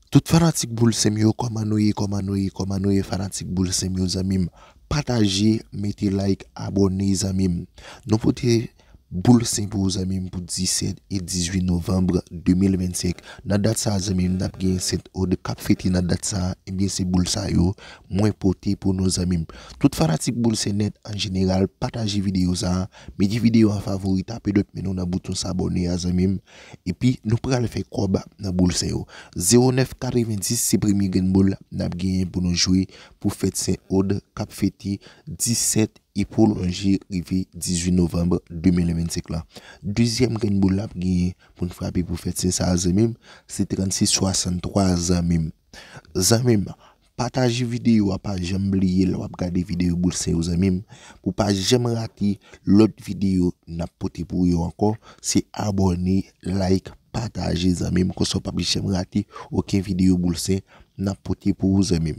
Tout fanatik boul sem yo koman nou ye koman nou ye koman nou ye fanatik boul sem yo zanmim pataje mete like abone zanmim nou pote boul sen pou ou zanmim pou 17 e 18 novanb 2025 nan dat sa zanmim nap gen sent od kap fete nan dat sa ebyen se boul sa yo mwen pote pou nou zanmim tout fanatik boul sen nèt an jeneral pataje video sa mete video an favori tape dòt men nou nan bouton sabòne a zanmim. Epi nou pral fè kòb nan boul sen yo. 09 90 se premye grenn boul nap genyen pou nou jwe pou fèt sen od kap fete 17 e pwolonje rive 18 novanm 2025 lan. Dezyèm grenn boul nap genyen poun frape pou fèt sen sa zanmim se 36 63 zanmim. Zanmim pataje video a pa janm bliye lè wap gade video boul se yo zanmim pou pa janm rate lòt video nap pote pou yo ankò se abòne like pataje zanmim konsa ou pap janm rate oken video boul se nap pote pou ou zanmim.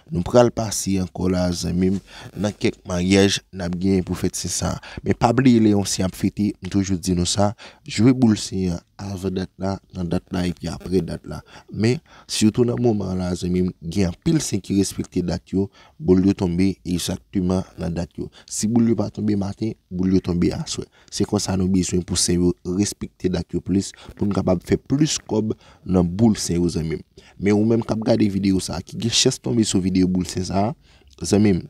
Nou pral pase ankò la zanmim nan kèk maryaj nap genyen pou fèt sen sa. Men pa bliye lè yon sen ap fete, m toujou di nou sa, jwe boul sen an avan dat la, nan dat la epi aprè dat la. Men, sitou nan moman an la zanmim, gen anpil sen ki respekte dat yo, boul yo tonbe egzakteman nan dat yo. Si boul yo pa tonbe maten, boul yo tonbe aswè. Se konsa nou bezwen pou sè yo respekte dat yo plis pou nou kapab fè plis kòb nan boul sè yo zanmim. Men ou menm kap gade video sa ki gen chans tonbe sou video boul sè sa zanmim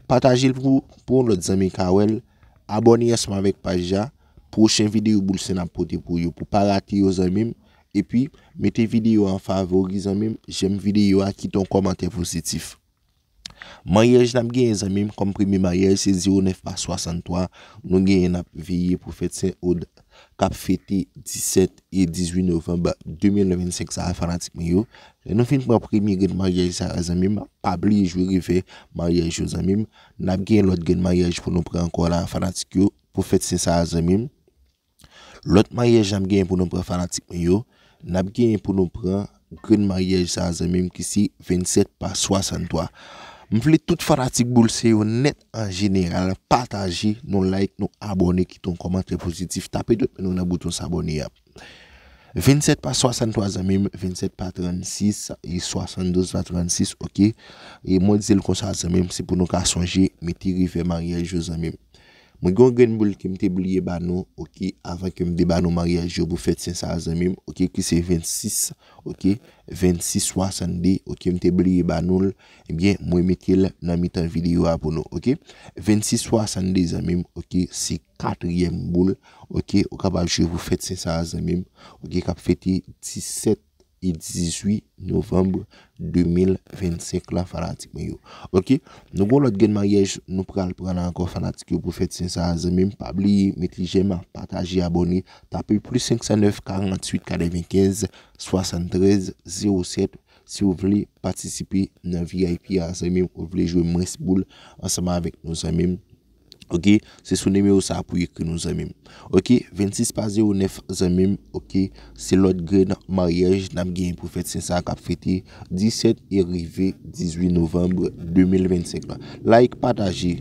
patajel pou yon lòt zanmi ka wèl abòne ansanm avèk paj la pwochen video boul sè nap pote pou yo pou pa rate yo zanmim epi mete video an favori zanmim jèm video a kite yon kòmantè pozitif. Maryaj nap genyen zanmim kòm premye maryaj se 09 mas 63 nou genyen nap veye pou fèt Sen Od kap fete 17 e 18 novanb 2025 sa a fanatik mwen yo. Lè nou fin pran premye grenn maryaj sa a zanmim pa bliye jwe revè maryaj yo zanmim nap genyen lòt grenn maryaj pou nou pran ankò la a fanatik yo pou fèt Sen sa a zanmim. Lòt maryaj nap genyen pou nou pran fanatik mwen yo nap genyen pou nou pran grenn maryaj sa zanmim ki se 27 pa 63 m vle tout fanatik boul se yo nèt an jeneral pataje nou like nou abòne kite yon kòmantè pozitif tape dwèt men nou nan bouton sabòne a 27 pa 63 zanmim 27 pa 36 e 72 pa 36 ok e mwen di l konsa zanmim se pou nou ka sonje mete revè maryaj yo zanmim. Mwen gen yon grenn boul kem te bliye ba nou ok avan kem te ba nou maryaj yo pou fèt sen sa zanmim ok ki se 26 ok 26 62 ok m te bliye ba noul ebyen mwen metel nan mitan videyo a pou nou ok 26 62 zanmim ok se katryèm boul ok ou kapab jwe pou fèt sen sa zanmim ok kap fete 17. e 18 novanm 2025 la fanatik mwen yo ok nou gon lòt grenn maryaj nou pral pran la ankò fanatik yo pou fèt sen sa a zanmi m pa bliye met li jèm pataje abòne tape plis 509 48 95 73 07 si w vle patisipe nan vip a zanmi m ou vle jwe mwens boul ansanm avèk nou zanmi m. Ok se sou nimewo sa pou ekri nou zanmim ok 26 pa 09 zanmim ok se lòt grenn maryaj nap genyen pou fèt sen sa kap fete 17 e rive 18 novanb 2025 la like pataje.